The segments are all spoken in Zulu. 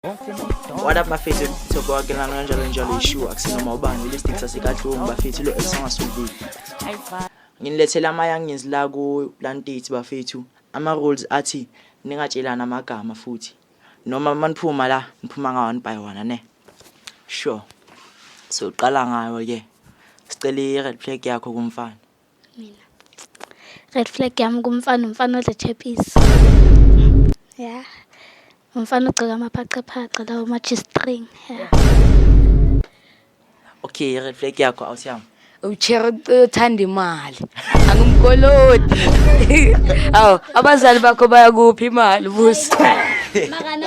What up bafethu thoko wake lana kanjalo njalo ishu akusinoma ubani listic sasekadlungu bafethu lo esangasubili nginilethela amayanginzi la ku lantiti bafethu ama rules athi ningatshelana amagama futhi noma maniphuma la niphuma nga one by one ne sure so uqala ngayo ke sicela i red flag yakho kumfana mina red flag yami kumfana umfana odla chapisi ya umfana ogcoka amaphaqaphaqa lawo ma-g-string ya okay i-red flag yakho awusiyami uchera uthanda imali angimkolodi awu abazali bakho bayakuphi imali busi makana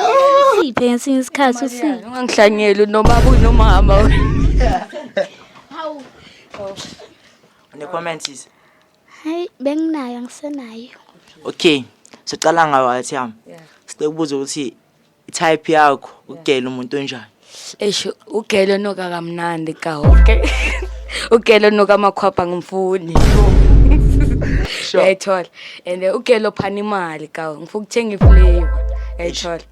usiphe ngesinye isikhathi usiphe ungangihlanyeli nomaba unomama Ne comment sisi. Hayi benginayo angisenayo. Okay. Sicala ngawe athi yami. Yeah. Sicela ukubuza ukuthi type yakho ugela umuntu onjani? Eish ugela noka kamnandi ka okay. Ugela noka makhwapha ngumfuni. Sure. Yayithola. And eh, ugela ophana imali ka ngifuna ukuthenga iflavor. Yayithola.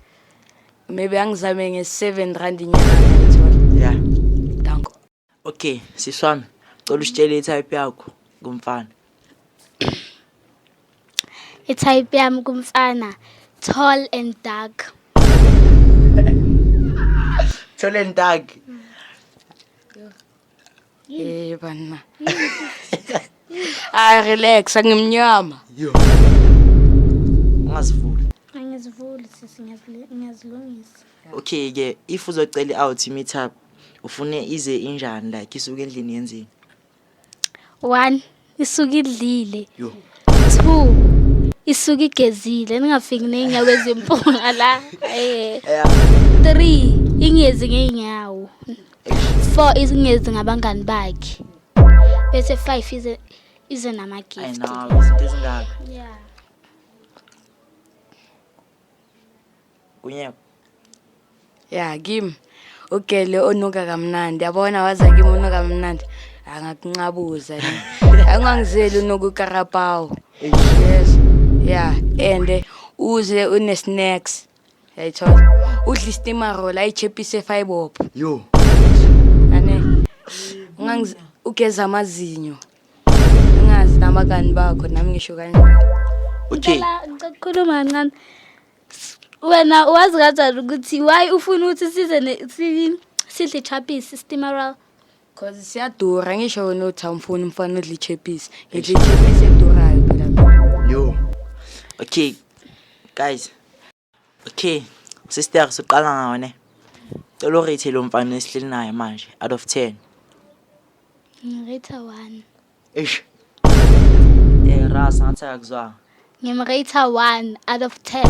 Maybe angizame nge 7 rand inyanga yayithola. Yeah. Danko. okay sisi wami cela usitshele i-type yakho kumfana i-type yami kumfana tall and dark tall and dark Eh banna. Ay relax angimnyama. Yo. Ungazivuli. Angizivuli sisi ngiyazilungisa. okay ke if uzocela i-out meet up ufune ize injani like isuke endlini yenzini one isuke idlile yo two isuke igezile ningafiki ney'nyawo ezimpunga la Eh, Yeah. three ingezi ngey'nyawo four ingezi ngabangani bakhe bese five ize ize ayi namagift nawe izinto ezingaka Yeah. kunye ya kim ugele onuka kamnandi yabona waza kim unuka kamnandi angakuncabuza angangizeli unuka ukarapawu yes ya and uze une-snacks yayithola udla istimarola ayichephise efayibopho yo ane ungangiz ugeza amazinyo ungazi nabangani bakho nami ngisho kanjalo okay ngicela ukukhuluma kancane wena wazi kanjani ukuthi why ufuna ukuthi size ne- si- sidle ichapisi steameral cause siyadura ngisho wena uthi awumfuni umfana odla ichepisi ngidla ichepisi edurayo phela mina yo okay guys okay sister siqala ngawo ne cela urate lo mfana esihleli naye manje out of 10 ngirate one Eish. Eh, Ras, ngatheka kuzwa. Ngimrate 1 out of 10.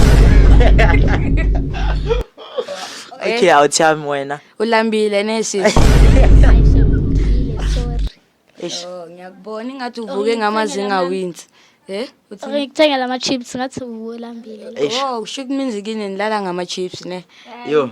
Okay, awuthami wena. Ulambile neshit. Aisha ngidlile, sorry. Eish. Oh, ngiyakubona ingathi uvuke ngamazinga wins. Eh? Uthi Okay, ngikuthengela ama chips ngathi ulambile. Eish. Oh, kusho ukuthi minzi kini nilala ngama chips ne. Yo.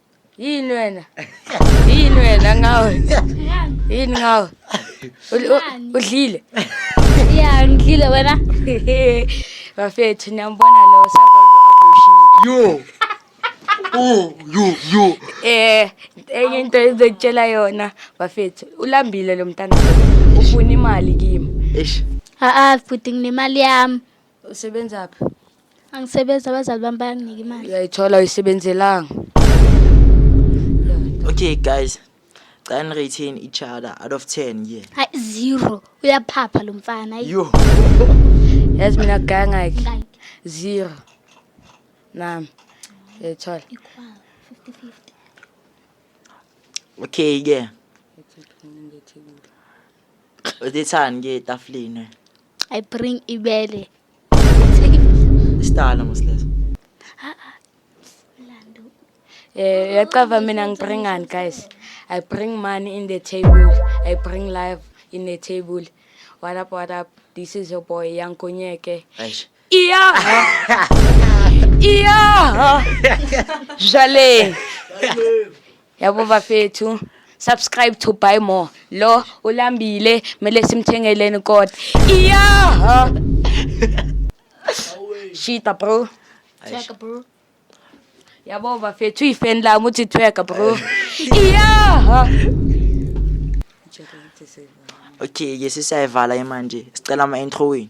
yini wena yini wena ngawe yini ngawe Ul- u- udlile ya ngidlile wena bafethu niyambona lo sababushile yo oh yo yo eh enye into ezokutshela yona bafethu ulambile lo mntana ufuna imali kimi eish aa bhuti nginemali yami usebenzaphi angisebenzi abazali bami bayanginika imali uyayithola uyisebenzelanga okay guys cela ni-retain each other out of 10 ye hayi zero uyaphapha lo mfana ayi. yo yazi mina gangakhe Ngayiphi? zero nami uyayithola Equal, 50-50. okay ke uthethani ke etafuleni I bring ibele. Isitala mosleso. Eh yacava mina ngibringani guys. I bring money in the table. I bring life in the table. What up what up? This is your boy Young Konyeke. Eish. Iya! Iya! Jale! Yabo bafethu, subscribe to buy more. Lo ulambile, mele simthengeleni kodwa. Iya! Shita bro. Check bro. Yabo bafethu ifan lami uthi tweka bro. Iya! Okay, ke sesiyayivala imanje. Sicela ama-intro wenu.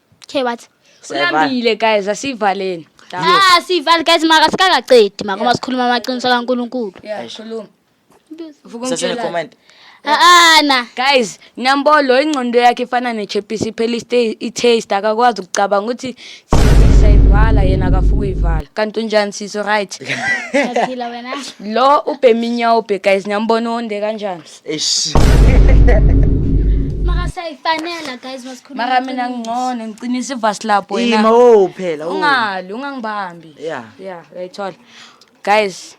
Okay what? Ulambile guys asivaleni. Ah sivale guys maka sikakaqedi maka uma sikhuluma amaqiniso kaNkuluNkulu. Yeah, khuluma. Vuka Sasele ungitshela. comment. Ah ah na. Guys, Nyambolo ingqondo yakhe ifana nechepisi iphela iste- i-taste akakwazi ukucabanga ukuthi sisi sayivala yena akafuka uyivala. Kanti unjani sisi right? Yaphila wena. Lo ubhema inyawo ubhe guys Nyambolo onde kanjani? Eish. Maka siyayifanela guys masikhuluma. Mara mina iqiniso. ngingcono ngiqinisa ivasi lapho wena. Ima wo phela. wo. ungali ungangibambi Yeah. yeah uyayithola guys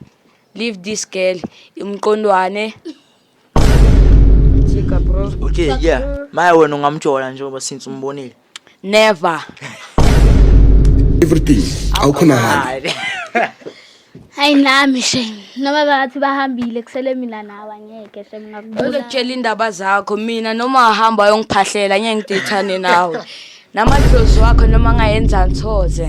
leave this girl umqondwane jika bro Okay, yeah. Maya wena ungamjola njengoba since umbonile. never everything awukhonakali hayi nami shem noma bathi bahambile kusele mina nawe angeke shem ngakubona uzokutshela indaba zakho mina noma ahamba ayongiphahlela ngeke ngidithane nawe namadlozi wakho noma ngayenza ngithoze